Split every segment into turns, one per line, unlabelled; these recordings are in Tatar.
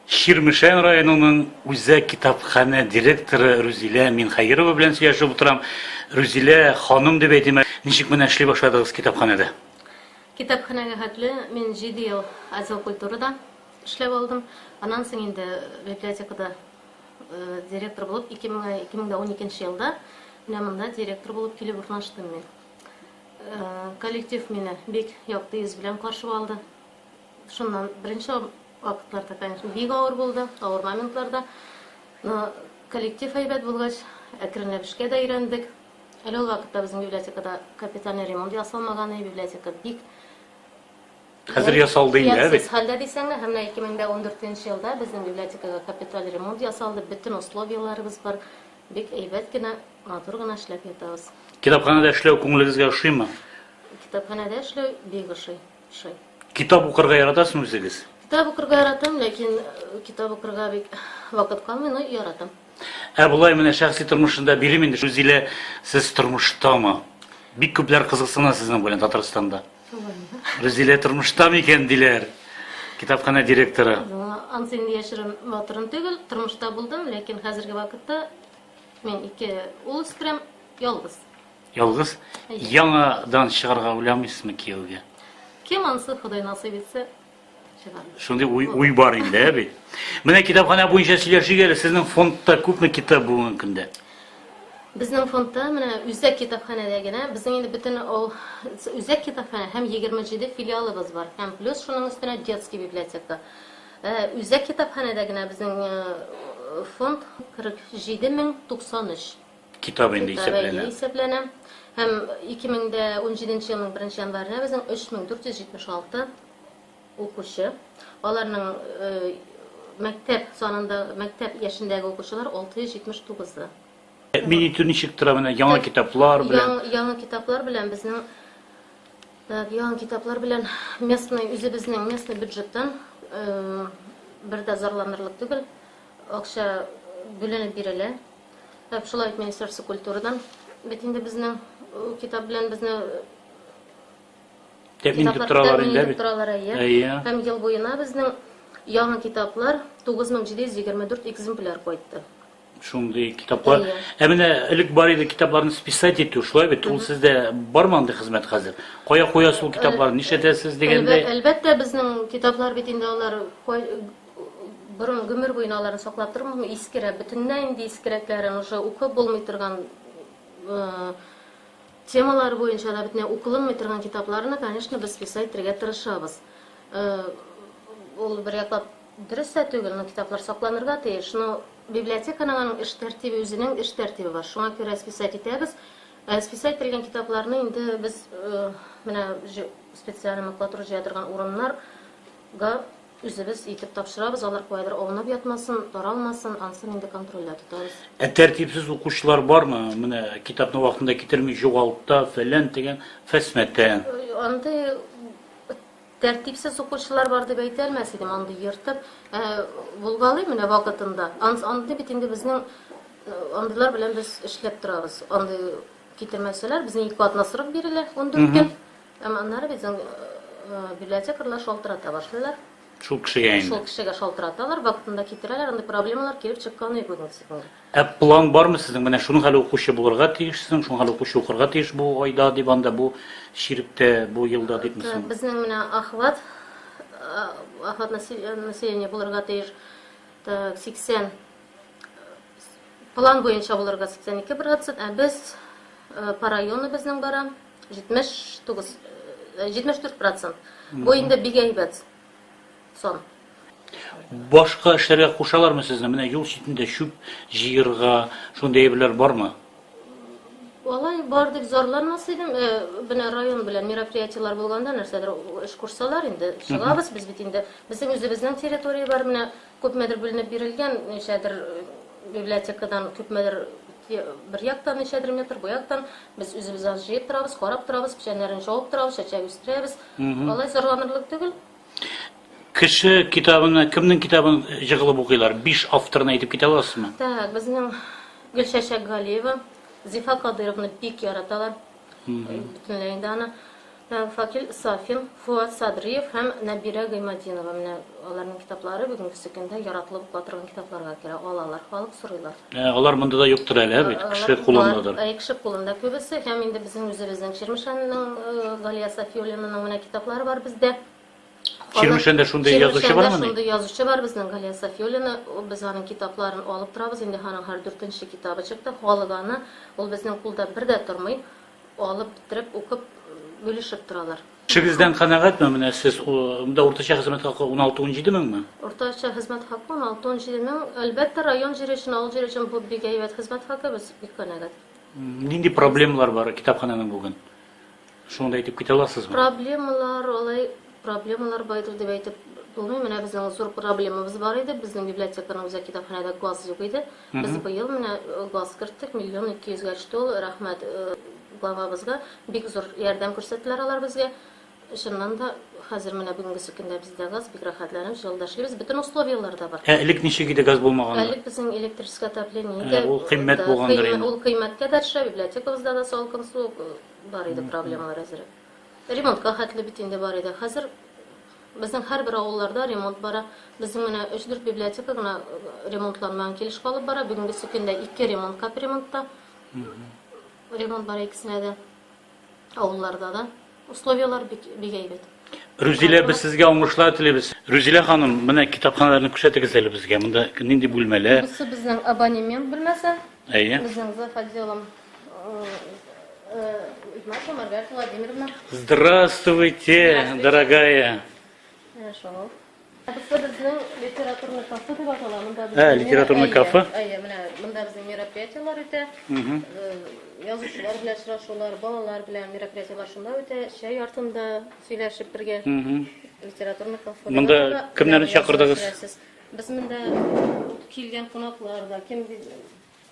Чирмешән районының үзәк китапханә директоры Рүзилә Минхәйрова белән сөйләшеп утырам. Рүзилә ханым дип әйтимә, ничек менә эшли башладыгыз китапханәдә? Китапханәгә
хәтле мин 7 ел отдел культурада эшләп алдым. Аннан соң инде библиотекада э, директор булып 2000, 2012 елда менә монда директор булып килеп урнаштым мин. Коллектив мине бик якты йөз белән каршы алды. Шуннан беренче вакытларда, конечно, бик авыр булды, авыр моментларда. Но коллектив әйбәт булгач, әкренләп эшкә дә өйрәндек. Әле ул вакытта безнең библиотекада капитальный ремонт ясалмаган иде, библиотека бик
Хәзер ясалды инде, ә бит. хәлдә дисәң дә, һәм
менә 2014 елда безнең библиотекага капиталь ремонт ясалды, бөтен условияләребез бар. Бик әйбәт кенә, матур гына эшләп ятабыз. Китапханәдә эшләү
күңелегезгә ошыймы? Китапханәдә
эшләү бик ошый. Ошый. Китап
укырга яратасызмы үзегез? Китап укырга яратам,
ләкин э, китап укырга бик вакыт калмый, но яратам. Ә болай менә
шәхси тормышында бирем инде Рузилә, сез тормыштамы? Бик күпләр кызыксына сезнең белән Татарстанда. Рүзилә тормышта микән диләр? Китапханә директоры. Ансы инде
яшерем матурым түгел, тормышта булдым, ләкин хәзерге вакытта мин ике ул үстерәм, ялгыз. Ялгыз?
Яңадан чыгарга уйламыйсызмы кияүгә? Кем ансы
Ходай насыйп итсә, Шундый уй,
уй бар инде, ә бит. Менә китапханә буенча сөйләшик әле, сезнең фондта күпме китап бүгенге көндә? Безнең
фондта менә үзәк китапханәдә генә, безнең инде бөтен ул үзәк китапханә һәм 27 филиалыбыз бар. Һәм плюс шуның өстенә детский библиотека. Э, үзәк китапханәдә генә безнең э, фонд 47093. Китап инде
исәпләнә. исәпләнә. Һәм
2017 елның 1 январына безнең 3476 укучы. Аларның э, мәктәп санында, мәктәп яшендәге укучылар 679-ы. Мин
итү ничек тора менә яңа китаплар белән? Яң, яңа китаплар белән
безнең так, яңа китаплар белән местный үзебезнең местный бюджеттан э, бер дә зарланырлык түгел. Акча бүленеп бирелә. Әп шулай итмә исерсе культурадан. Бит инде безнең китап белән безне
Тәмин итеп торалар инде бит. Торалар әйе. Һәм
ел буена безнең яңа китаплар 9724 экземпляр кайтты. Шундый
китаплар. Ә менә элек бар иде китапларны списать итү, шулай бит? Ул сездә бармы андый хезмәт хәзер? Кая куясыз ул китапларны? Нишләтәсез дигәндә? Әлбәттә, безнең
китаплар бит инде алар Борын гомер буена аларны саклап тору искерә, бөтенләй инде искерәкләрен уже укып булмый торган темалар буенча да бөтенләй укылынмый торган китапларны, конечно, без писать итәргә тырышабыз. Ул бер яклап дөрес тә түгел, но китаплар сакланырга тиеш. Но библиотеканың аның эш тәртибе, үзенең эш тәртибе бар. Шуңа күрә списать итәбез. Ә списать ителгән китапларны инде без менә специаль макулатура җыя торган урыннарга Үзебез итеп тапшырабыз, алар каядыр аунап ятмасын, таралмасын, ансын инде контрольдә тотабыз. Ә тәртипсез
укучылар бармы? Менә китапны вакытында китерми җугалта, фәлән, тегән, фәсмәтән. Андый
тәртипсез укучылар бар дип әйтә алмас идем, андый ертып, ә булгалый менә вакытында. Андый бит инде безнең андыйлар белән без эшләп торабыз. Андый китермәсәләр, безне ике атнасырып бирелә, ундүрт көн. Әмма аннары безнең библиотекарьлар шалтырата башлыйлар. Шул кешегә инде.
Шул кешегә шалтыраталар,
вакытында китерәләр, андый проблемалар килеп чыккан юк безнең сигнал. Ә план бармы
сезнең? Менә шуның хәле укучы булырга тиешсең, шуның хәле укучы укырга тиеш бу айда дип анда, бу чиректә, бу елда дип мисың? Безнең менә охват,
охват населения булырга тиеш. Так, 80 план буенча булырга 82%, ә без по району безнең бара. Җитмеш тугыз, җитмеш дүрт процент. Бу инде бик әйбәт сон.
Башка эшләргә кушалармы сезне? Менә юл читендә чүп җыерга, шундый әйберләр бармы?
Алай бар дип зарланмас идем. Менә район белән мероприятиеләр булганда нәрсәдер эш кушсалар инде чыгабыз. Без бит инде безнең үзебезнең территория бар менә Күпмедер бүленеп бирелгән, ничәдер библиотекадан, күпмедер бер яктан, ничәдер метр бу яктан. Без үзебез аны җыеп торабыз, карап торабыз, печәннәрен чабып торабыз, чәчәк үстерәбез. Алай зарланырлык түгел. Кеше
китабына, кемнең китабын җыгылып укыйлар? Биш авторны әйтеп китә аласызмы? Так, безнең
Гөлчәчәк Галиева, Зифа Кадыйровны бик яраталар. Бөтенләй инде аны. Факил Сафин, Фоат Садриев һәм Нәбирә Гыйматдинова, менә аларның китаплары бүгенгесе көндә яратылып укыла торган китапларга керә, алалар, халык сорыйлар. Ә алар монда да
юктыр әле, ә бит, кеше кулындадыр. Әйе, кеше кулында
күбесе, һәм инде безнең үзебезнең Чирмешәннең Галия Сафиуллинаның менә китаплары бар бездә. Чирмешәндә
шундый язучы бармыни? Чирмешәндә шундый язучы бар безнең
Галия Сафиуллина, без аның китапларын алып торабыз, инде аның һәр дүртенче китабы чыкты, халык аны, ул безнең кулда бер дә тормый, Алып бетереп укып, бүлешеп торалар. Эшегездән канәгатьме
менә сез? Монда уртача хезмәт хакы 16-17 меңме? Уртача хезмәт
хакы 16-17 мең. Әлбәттә, район җире өчен, авыл җире өчен бу бик әйбәт хезмәт хакы, без бик канәгать. Нинди
проблемалар бар китапхананың бүген? Шуны да әйтеп китә аласызмы? Проблемалар алай Проблемалар
байдыр дип әйтеп булмый. Менә безнең зур проблемабыз бар иде. Безнең библиотеканың үзәк китапханәдә газ юк иде. Без быел менә э, газ керттек, миллион ике йөзгә төште ул. Рәхмәт э, главабызга. Бик зур ярдәм күрсәттеләр алар безгә. Чыннан да хәзер менә бүгенге көндә бездә газ бик рәхәтләнеп җылда эшлибез. Бөтен условияләр дә бар. Ә элек ничек иде газ
булмаганда? Әле безнең электрическое
отопление иде. Ә, ул кыйммәт булгандыр
инде. Ул кыйммәткә дәршә,
библиотекабызда да салкын су э, бар иде проблемалар әзерәк. Ремонтка хәтле бит инде бар иде. Хәзер безнең һәрбер авылларда ремонт бара. Безнең менә өч-дүрт библиотека гына ремонтланмаган килеш калып бара. Бүгенге көндә ике ремонт капремонтта. Ремонт бара икесенә дә. Авылларда да. Условияләр бик, бик әйбәт. Рүзилә, без
сезгә уңышлар телибез. Рүзилә ханым, менә китапханаларны күрсәтегез әле безгә. Монда нинди бүлмәләр? Бусы безнең абонемент
бүлмәсе. Әйе. Безнең за
отделом
Маша Маргарита Владимировна. Здравствуйте,
дорогая. Хорошо.
Кызы безнең литературный кафе дип атала. Монда без Ә, литературный кафе?
Әйе, менә монда
безнең мероприятиеләр үтә. Язучылар белән очрашулар, балалар белән мероприятиеләр шунда үтә. Чәй артында сөйләшеп бергә. Литературный кафе. Монда кемнәрне
чакырдыгыз? Без монда
килгән кунаклар да, кем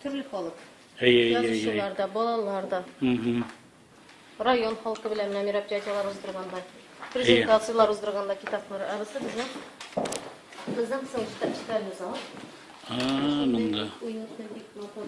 Төрле халык. Әйе, әйе, әйе. Язучылар да, балалар да. Район халкы белән менә мероприятиеләр уздырганда, презентацияләр уздырганда китаплар. Ә бусы безнең безнең соң читальный зал. А,
монда. Уютный бик
матур.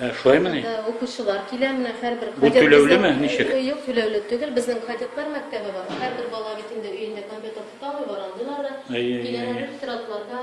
Ә, шулай мени?
Укучылар килә,
менә һәрбер Бу түләүле ме,
ничек? Юк, түләүле түгел.
Безнең кадетлар мәктәбе бар. Һәрбер бала бит инде өендә компьютер тота алмый, бар андыйлар да. Киләләр, тиратларда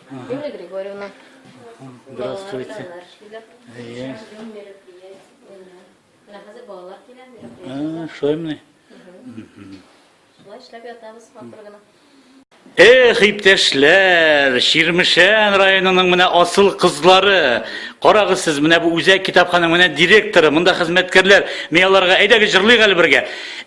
Юлия Григорьевна.
Здравствуйте. Әйе. Менә хәзер балалар
килә. Ә, шулаймыни? Шулай эшләп ятабыз матур гына. Эх, иптәшләр,
Ширмешән районының менә асыл кызлары. Карагыз сез, менә бу үзәк китапханың менә директоры, монда хезмәткәрләр. Мин аларга әйдәгез җырлыйк әле бергә.